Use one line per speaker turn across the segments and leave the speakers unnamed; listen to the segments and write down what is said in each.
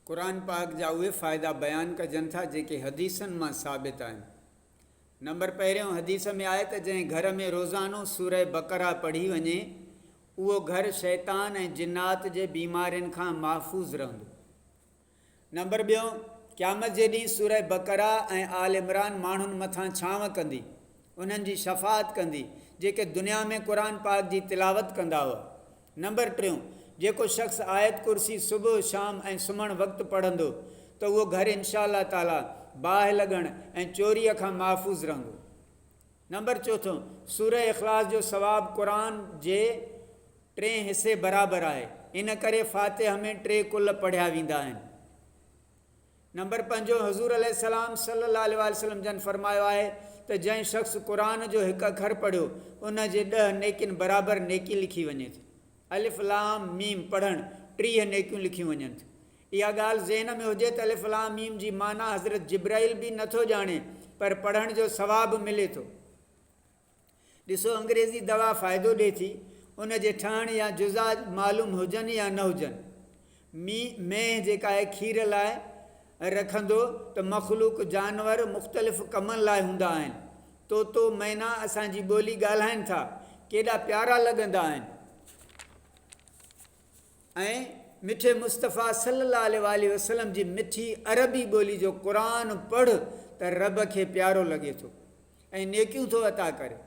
قرآن پاڪ جا اهي فائدا بيان ڪجن ٿا جيڪي حديثن مان ثابت آهن. نمبر پهريون حديث ۾ آهي ته جنهن گهر ۾ روزانو سوره بقره پڙهي وڃي اهو گهر شيطان ۽ جنات جي بيمارين کان محفوظ رهندو. نمبر ٻيون قيامت جي ڏينهن سوره بقره ۽ آل عمران ماڻهن مٿان ڇانو ڪندي انهن جي شفاعت ڪندي جيڪي دنيا ۾ قرآن پاڪ جي تلاوت ڪندا هئا نمبر ٽيون، جيڪو شخص آيت ڪرسي صبح، شام ۽ سمهڻ وقت پڙهندو ته اهو گهر انشاء الله تعالٰي باهه لڳڻ ۽ چوريء کان محفوظ رهندو. نمبر چوٿون، سوره اخلاص جو ثواب قرآن جي ٽئين حصي برابر آهي، ان ڪري فاتحه ۾ ٽي ڪل پڙهيا ويندا آهن. نمبر پنجون، حضور عليه السلام صلي الله عليه واٰله وسلم جن فرمايو آهي ته جنهن شخص قرآن جو هڪ اکر پڙهيو ان جي ڏهه نيڪين برابر نيڪي لکي وڃي ٿي. الف لام ميم پڙهڻ ٽيهه نيڪيون لکيون وڃن ٿيون. اها ڳالهه ذهن ۾ هجي ته الف لام ميم جي معنيٰ حضرت جبرائيل به نه ٿو ڄاڻي پر پڙهڻ جو ثواب ملي ٿو. ڏسو انگريزي دوا فائدو ڏي ٿي ان جي ٺهڻ يا جزا معلوم هجن يا نه هجن. مي مينهن جيڪا آهي کير لاء رکندو ته مخلوق جانور مختلف ڪمن لاء هوندا آهن. طوطو مينا اسان جي ٻولي ڳالهائين ٿا. ڪيڏا پيارا لڳندا آهن. ۽ مٺي مصطفيٰ صلّي اللّٰه عليه واٰله وسلّم جي مٺي عربي ٻولي جو قرآن پڙھ ته ربّ کي پيارو لڳي ٿو ۽ نيڪيون ٿو عطا ڪري.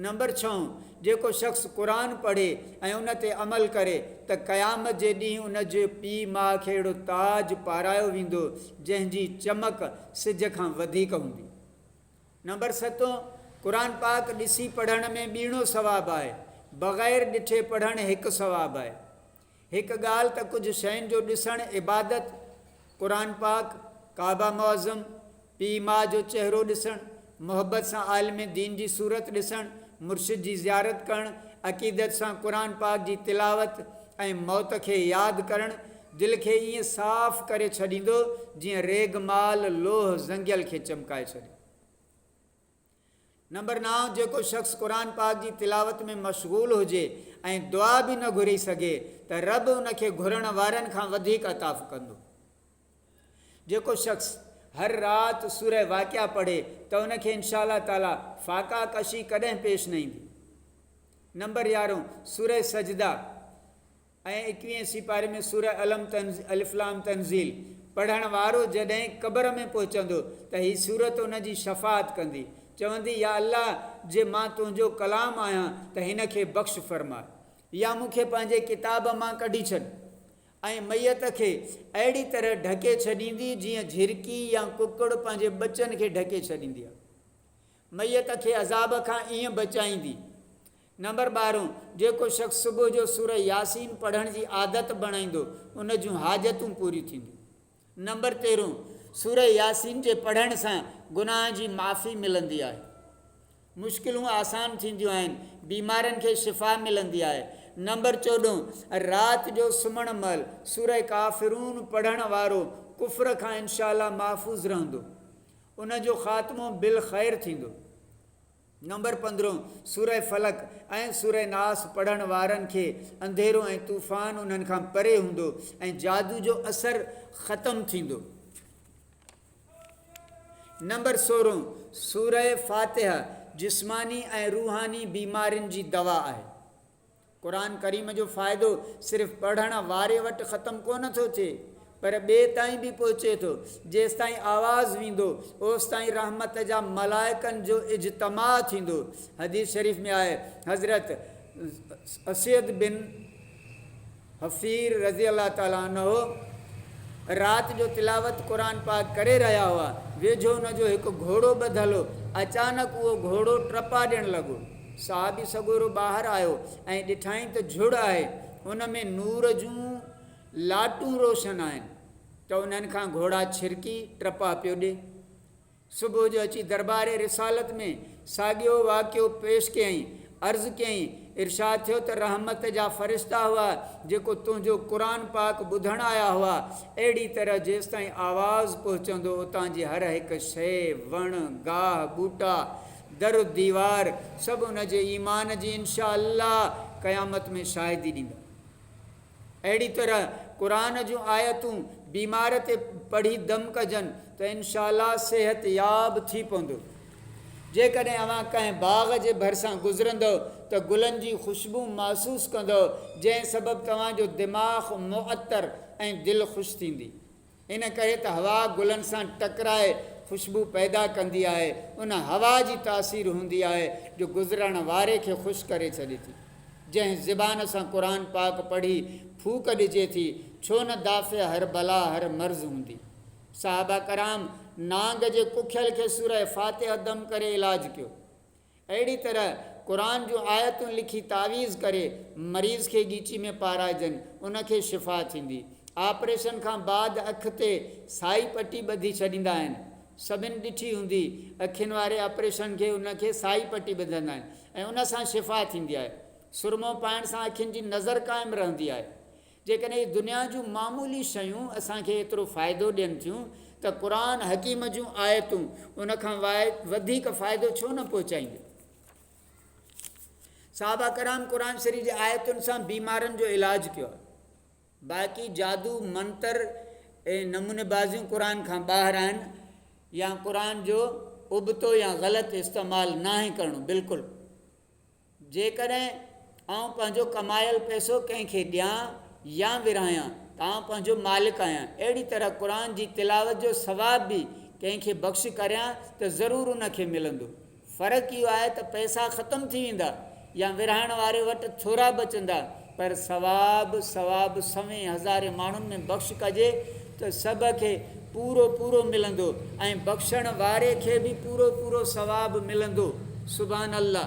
نمبر ڇهون، جيڪو شخص قرآن پڙھي ۽ ان تي عمل ڪري ته قيامت جي ڏينھن ان جي پيء ماء کي اھڙو تاج پارايو ويندو جنھن جي چمڪ سج کان وڌيڪ ھوندي. نمبر ستون، قرآن پاڪ ڏسي پڙهڻ ۾ ٻيڻو ثواب آهي، بغير ڏٺي پڙهڻ هڪ ثواب آهي. هڪ ڳالهه ته ڪجهه شين جو ڏسڻ عبادت، قرآن پاڪ، ڪعبه معظم، پيء ماء جو چهرو ڏسڻ، محبت سان عالم دين جي صورت ڏسڻ، مرشد جي زيارت ڪرڻ، عقيدت سان قرآن پاڪ جي تلاوت ۽ موت کي ياد ڪرڻ دل کي ائين صاف ڪري ڇڏيندو جيئن ريگ مال لوھ زنگيل کي چمڪائي ڇڏي. نمبر نائون جيڪو شخص قرآن پاڪ جي تلاوت ۾ مشغول هجي ۽ دعا به نه گهري سگهي ته رب ان کي گهرڻ وارن کان وڌيڪ عطاء ڪندو. جيڪو شخص هر رات سوره واقعه پڙهي ته ان کي انشاء الله تعالي فاقه ڪشي ڪڏهن پيش نه ايندي. نمبر يارهون سوره سجده. ۽ ايڪويهين سيپاري ۾ سوره الم تنزيل الف لام تنزيل پڙهڻ وارو جڏهن قبر ۾ پهچندو ته هي سورت ان جي شفاعت ڪندي چوندي يا الله جي مان تنهنجو ڪلام آهيان ته هن کي بخش فرماء يا مون کي پنهنجي ڪتاب مان ڪڍي ڇڏ ۽ ميت کي اهڙي طرح ڍڪي ڇڏيندي جيئن جهرڪي يا ڪڪڙ پنهنجي ٻچن کي ڍڪي ڇڏيندي آهي ميت کي عذاب کان ائين بچائيندي نمبر ٻارهون، جيڪو شخص صبح جو سورة ياسين پڙهڻ جي عادت بڻائيندو، ان جون حاجتون پوريون ٿينديون. نمبر تيرهون، سورة ياسين جي پڙهڻ سان گناهن جي معافي ملندي آهي، مشڪلون آسان ٿينديون آهن، بيمارين کي شفا ملندي آهي. نمبر چوڏهون، رات جو سمهڻ مهل سورة ڪافرون پڙهڻ وارو ڪفر کان انشاء الله محفوظ رهندو، ان جو خاتمو بالخير ٿيندو. نمبر پندرهون، سورة فلق ۽ سورة ناس پڙهڻ وارن کي انڌيرو ۽ طوفان انهن کان پري هوندو ۽ جادو جو اثر ختم ٿيندو. نمبر سورهون، سورة فاتحه جسماني ۽ روحاني بيمارين جي دوا آهي. قرآن ڪريم جو فائدو صرف پڙهڻ واري وٽ ختم ڪونه ٿو ٿئي پر ٻئي تائين به پهچي ٿو. جيستائين آواز ويندو اوستائين رحمت جا ملائڪن جو اجتماع ٿيندو. حديث شريف ۾ آهي حضرت اسيد بن. حفير رضي الله تعالٰي عنه رات جو تلاوت قرآن پاڪ ڪري رهيا هئا، ويجهو ان جو هڪ گهوڙو ٻڌل هو، اچانڪ اهو گهوڙو ٽپا ڏيڻ لڳو، صحابي سڳورو ٻاهر آيو ۽ ڏٺائين ته جهڙ آهي، ان ۾ نور جون لاٽون روشن آهن، ته انهن کان گهوڙا ڇرڪي ٽپا پيو ڏي. صبح جو اچي دربار رسالت ۾ ساڳيو واقعو پيش ڪيائين. عرض ڪيائين، ارشاد ٿيو ته رحمت جا فرشتا هئا جيڪو تنهنجو قرآن پاڪ ٻڌڻ آيا هئا. اهڙي طرح جيستائين آواز پهچندو اتان جي هر هڪ شيء، وڻ، گاهه، ٻوٽا، در و ديوار سڀ ان جي ايمان جي انشاء الله قيامت ۾ شاهدي ڏيندا. اهڙي طرح قرآن جون آيتون بيمار تي پڙهي دم ڪجن ته انشاء الله صحت ياب ٿي پوندو. جيڪڏهن اوهان ڪنهن باغ جي ڀرسان گذرندؤ ته گلن جي خوشبو محسوس ڪندؤ جنهن سبب توهان جو دماغ معطر ۽ دل خوش ٿيندي. ان ڪري ته هوا گلن سان ٽڪرائي خوشبو پيدا ڪندي آهي. ان هوا جي تاثير هوندي آهي جو گذرڻ واري کي خوش ڪري ڇڏي ٿي. جنهن زبان سان قرآن پاڪ پڙهي ڦوڪ ڏجي ٿي، ڇو نه دافع هر بلا هر مرض هوندي. صحابه ڪرام نانگ جي ڪکيل کي سوره فاتحه دم ڪري علاج ڪيو. اهڙي طرح قرآن جون آيتون لکي تعويذ ڪري مريض کي ڳيچي ۾ پارائجن، ان کي شفا ٿيندي. آپريشن کان بعد اک تي سائي پٽي ٻڌي ڇڏيندا آهن. سڀن ڏٺي هوندي اکين واري آپريشن کي ان کي سائي پٽي ٻڌندا آهن ۽ ان سان شفا ٿيندي آهي. سرمو پائڻ سان اکين جي نظر قائم رهندي آهي. جيڪڏهن هي دنيا جون معمولي شيون اسان کي ايترو فائدو ڏين ٿيون ته قرآن حڪيم جون آيتون ان کان وڌيڪ فائدو ڇو نه پهچائينديون؟ صحابه ڪرام قرآن شريف جي آيتن سان بيمارن جو علاج ڪيو آهي باقي جادو منتر ۽ نموني بازيون قرآن کان ٻاهر آهن يا قرآن جو ابتو يا غلط استعمال ناهي ڪرڻو بلڪل جيڪڏهن آئون پنهنجو ڪمايل پئسو ڪنهن کي ڏيان يا ورهايان ته آئون پنهنجو مالڪ آهيان، اهڙي طرح قرآن جي تلاوت جو ثواب به ڪنهن کي بخش ڪريان ته ضرور ان کي ملندو. فرق اهو آهي ته پئسا ختم ٿي ويندا يا ورهائڻ واري وٽ ٿورا بچندا پر ثواب ثواب سوين هزارين ماڻهن ۾ بخش ڪجي ته سڀ کي پورو پورو ملندو ۽ بخشڻ واري کي به پورو پورو ثواب ملندو. سبحان الله.